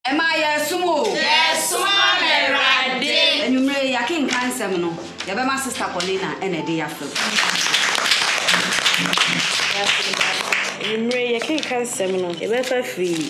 Ɛmaa yɛresom o. Yɛresom ama Awurade. Anwumerɛ yi yɛakenka nsɛm no, yɛbɛma Sista Paulina na ɛde yɛafrɛ mu. Anwumerɛ yi yɛkenka nsɛm no, yɛbɛfa afiri yi.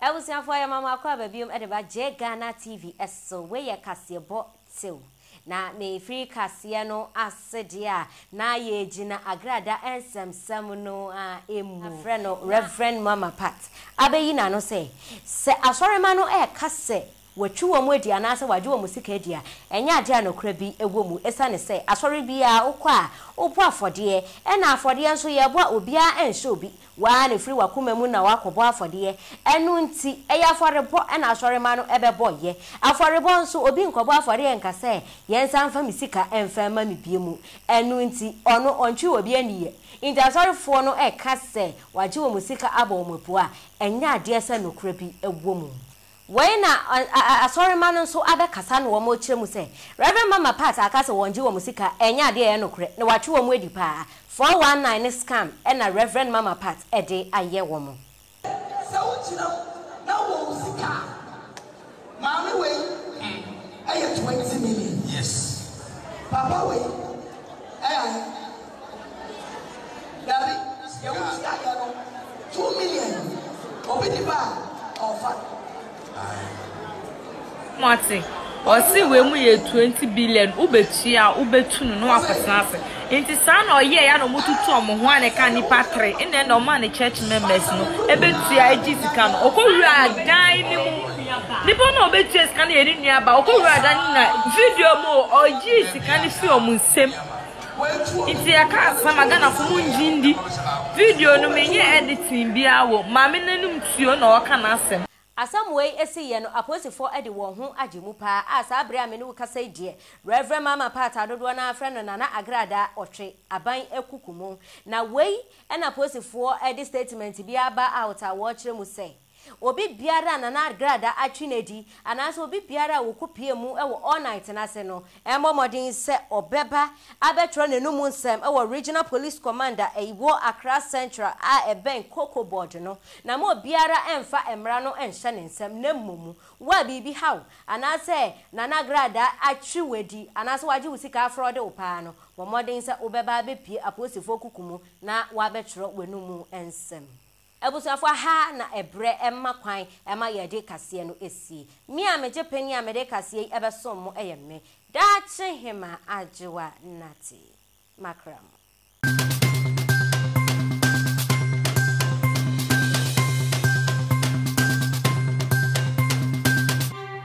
Abusuafoɔ yɛma mo akɔ aba biom de ba J Ghana TV so. Wei yɛ kaseɛbɔ tew. Na ne mfiri kaseɛ no ase deɛ a, na yɛgyina Agrada nsɛmnsɛm no ara mu. Wɔafrɛ no Rev. Muammar Pat abɛyi n'ano sɛ, sɛ asɔremma no reka sɛ wɔatwi wɔn adi anaasɛ wɔagye wɔn sika adi a, ɛnyɛ adeɛ a nokorɛ bi wɔ mu, ɛsiane sɛ asɔre biara wokɔ a, wobɔ afɔdeɛ, ɛna afɔdeɛ nso yɛrebɔ a obiara nhyɛ obi Wo ara na ɛfiri w'akoma mu na woakɔbɔ afɔdeɛ. Ɛno nti, ɛyɛ afɔrebɔ na asɔremma no bɛbɔeɛ. Afɔrebɔ nso, obi nkɔbɔ afɔreɛ nka sɛ, Yɛnsan mfa me sika mfa mma me bio mu. Ɛno nti, ɔno ɔntwe obi aniyɛ. Enti asɔrefoɔ no reka sɛ wɔagye wɔn sika abɔ wɔn apua a, ɛnyɛ adeɛ sɛ nokorɛ bi wɔ mu. Wei na Asɔremma no nso abɛkasa na wɔrekyerɛ mu sɛ, Rev. Mama Pat aka sɛ wɔngye wɔn sika, ɛnyɛ adeɛ a ɛyɛ nokorɛ, na watwe wɔn adi paa. 419 ne scam na Rev. Mama Pat de ayɛ wɔn. Sɛ wogyina mu na wowɔ wo sika a, maame wei yɛ twenty million. Papa wei yɛ ahe? Dabi, sɛ yɛ wo ti ayɛ no two million obi de ba a ɔfa. Moate? Ɔse wei mu yɛ 20 billion, wobɛtua a wobɛtu no na wakɔtena ase. Nti saa na ɔyɛɛ ya na ɔmotutu ɔmo ho a na ɛka nipa tere. Nna ɛna ɔmaa ne church members no ɛbɛtua ɛgye sika no. Ɔkɔwura dan no mu. Nipa no a ɔbɛtua sika no yɛ ne nua ba. Ɔkɔwura dan no na video mu o, ɔgyee sika no firi ɔmo nsam. Ntsi yɛka asɛm ma Ghanafo mo ngye ndi. Video no mennyɛɛ editing biara wɔ mu, maame n'enum tuo na ɔka n'asɛm. Asɛm wei siiɛ no, apolisifoɔ de wɔn ho agye mu paa a saa berɛ a me ne wo kasa yi deɛ, Rev. Mama Pat a dodoɔ no ara frɛ no Nana Agrada Ɔtwe aban akuku mo. Na wei na apolisifoɔ de statement bi aba out a wɔrekyerɛ mu sɛ, Obi biara a na n'agradaa atwe no adi anaasɛ obi biara a wɔkɔpuee mu wɔ All Night no ase no, mmɔ mmɔden sɛ ɔbɛba abɛtwerɛ n'anomu nsɛm wɔ Regional Police Command a ɛwɔ Accra Central a ɛbɛn Koko Board no, na ma obiara mfa mmara no nhyɛ ne nsam, na mmom wo a biribi ha wo anaasɛ na n'agradaa atwe wo adi anaasɛ wɔagye wo sika afrɔde wo paa no, bɔ mmɔden sɛ wobɛba abɛpue apolisifoɔ kuku mu na woabɛtwerɛ w'anomu nsɛm. Abusuafo aha na ɛbrɛ mma kwan ma yɛde kaseɛ no sie. Me a megye panin a mede kaseɛ yi bɛsom mo yɛ me daakye hemaa Adwoa Nartey. Makra mu.